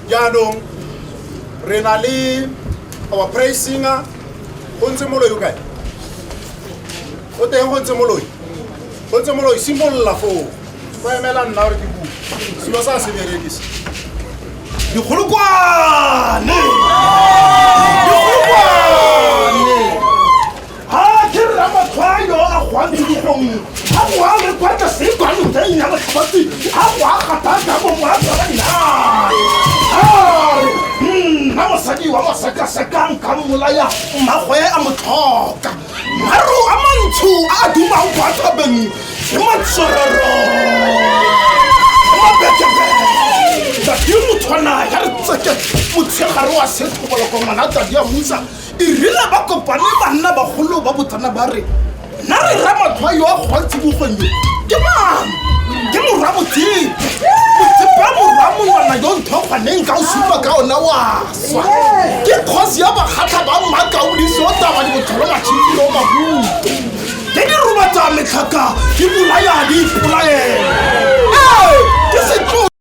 jaanong re na le our praise singer go ntse moloi o kae o teng go ntse moloi go ntse moloi simolola foo ba emela nna gore ke bua selo sa se berekise dikgolokwane ha ke re ramatshwayo a gwantse dikgong ha go a le kwata se kwanong tsa nya batlhabatsi ha go a gataka mo mo a tsaba dinare are nna mosadi wa masekasekang ka mmolaya mmagoe a mo tlhoka maru a mantsho a a dumang kwa thabeng ke matsorero ke mabekebeke tadi motshwana ya re tseke motshegare wa sethoboloko ngwana tadi ya musa e rile ba kopane banna bagolo ba botsana ba re nna re ramatlhwa yo a kgwantsibogong yo ke mang ke morwa botseng botseba morwa mongwana yo ntho kgwaneng ka o supa ka ona wa swa ke kgosi ya bakgatlha ba mmakaodise o taba di botlholo matšhiki yo mabuo ke di robatsa metlhaka ke bolaya di ipolaela ke setlo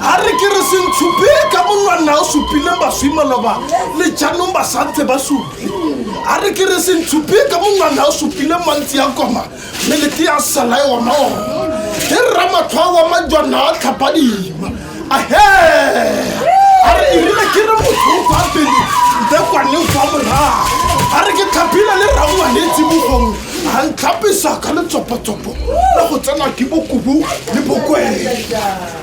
a re ke re sentshupe ka monwana o supileng baswi maloba le jaanong ba santse ba supe a re ke re sentshupe ka monwana o supileng mantsi ya koma mme lete ya sala e ona ona e rra matlhwa wa majwana a tlhapadima ahe a re erile ke re motho fa pele nte kwaneng fa morago a re ke tlhaphile le rangwanetse bogong a ntlhapisa ka letsopotsopo le go tsenwa ke bokubu le bokwele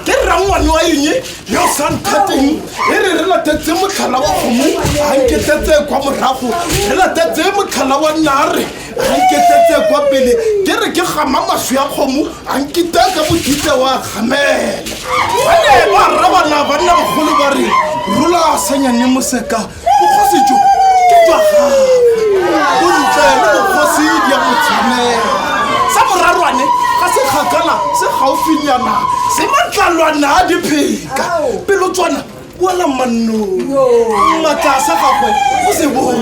ke rrangwane wa eng yo o sa nthateng e re re latetse motlhala wa kgomo a nketetse kwa morago re latetse motlhala wa nare a nketetse kwa pele ke re ke gama maswi ya kgomo a nkita ka bokitse wa gamela ba ne ba rrabana banna bagolo ba re rula sanyane moseka bogosi jo ke jwa gagwe o ntle le bogosi ya go tshimela sa borarwane ga se kgakala se gaufinyana se matlalwana a dipheka pelo tswana wala mannong maatla sa gagwe o se bong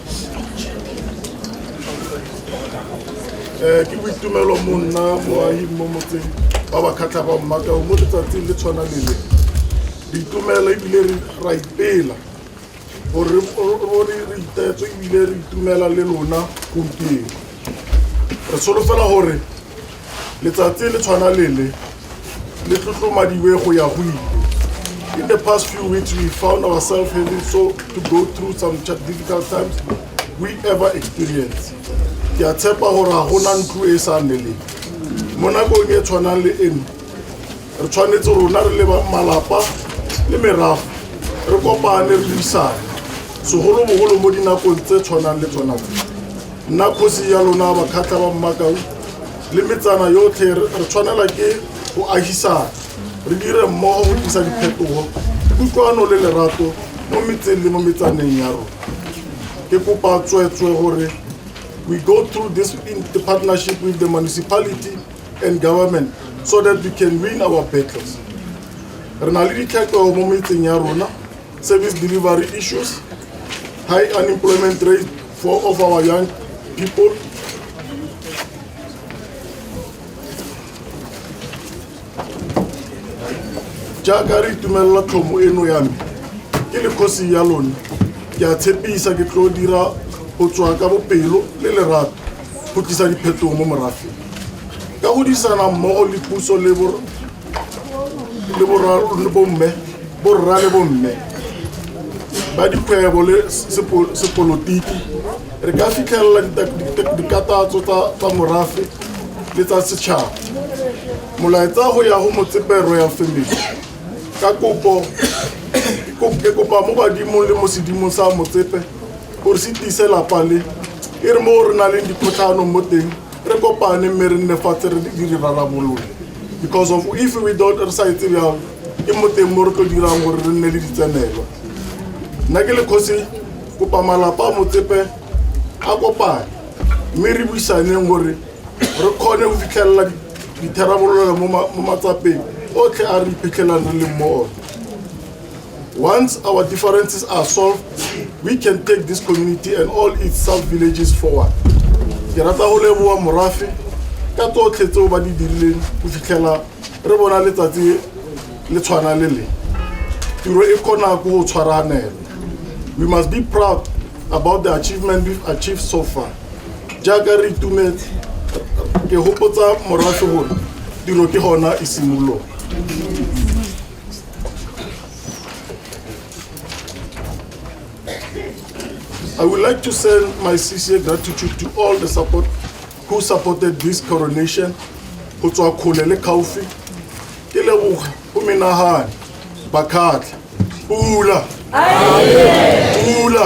um ke boitumelo mo nna moahi mo motseng ba ba khatlha ba mmakao mo letsatsing le tshwana lele diitumela ebile ra ipela gore re itetse ebile re itumela le lona gompieno re solofela gore Letsatsi le tshwana lele le tlotlomadiwe go ya go ile. In the past few weeks, we found ourselves having so to go through some difficult times we ever experienced. Ke a tshepa gore ga gona ntlo e sa neleng. Mo nakong e tshwanang le eno, re tshwanetse rona re leba malapa le merago re kopane re buisane segolobogolo mo dinakong tse tshwanang le tsona tse Nna kgosi ya lona bakgatla ba mmakau le metsana yotlhe re tshwanela ke go agisana re dire mmogo go tlisa diphetogo kutlwano le lerato mo metseng le mo metsaneng ya rona ke kopa tsweetswe gore we go through this in the partnership with the municipality and government so that we can win our battles re na le ditlhekego mo metseng ya rona Service delivery issues, high unemployment rate for of our young people. jaaka re itumelela tlhomo eno ya me ke le kgosi ya lone ke a tshepisa ke tlo dira go tswa ka bopelo le lerato go tlisa diphetogo mo morafeng ka go disana mmogo le puso le le bomme borra le bomme ba dikgwebo le sepolotiki re ka fitlhelela dikatatso tsa morafe le tsa setšhaba molaetsa go ya go motsepero ya family ka kopo ke kopa mo badimong le mo sedimong sa motsepe gore se tiise lapa le e re mo re na leng dikgotlhanong mo teng re kopane mme re nne fatshe re di rarabolola because of if we don't re sa etse jalo ke mo teng mo re tlo dirang gore re nne le ditsenelwa nna ke le kgosi kopa malapa a motsepe a kopane mme re buisaneng gore re kgone go fitlhelela ditharabololo mo matsapeng otlhe a re iphitlhelang re leng mo one Once our differences are solved, we can take this community and all its sub-villages forward. Ke rata go leboa morafe ka tsotlhe tseo ba di dirileng go fitlhela re bona letsatsi le tshwana le le. Tiro e kgona go tshwaranela. We must be proud about the achievement we've achieved so far. Jaaka re itumetse, ke hopotsa morafe gore tiro ke gona e simologa. I would like to send my sincere gratitude to all the support who supported this coronation go tswa kgole le khaufi ke leboga go menagane bakhatlha pula pula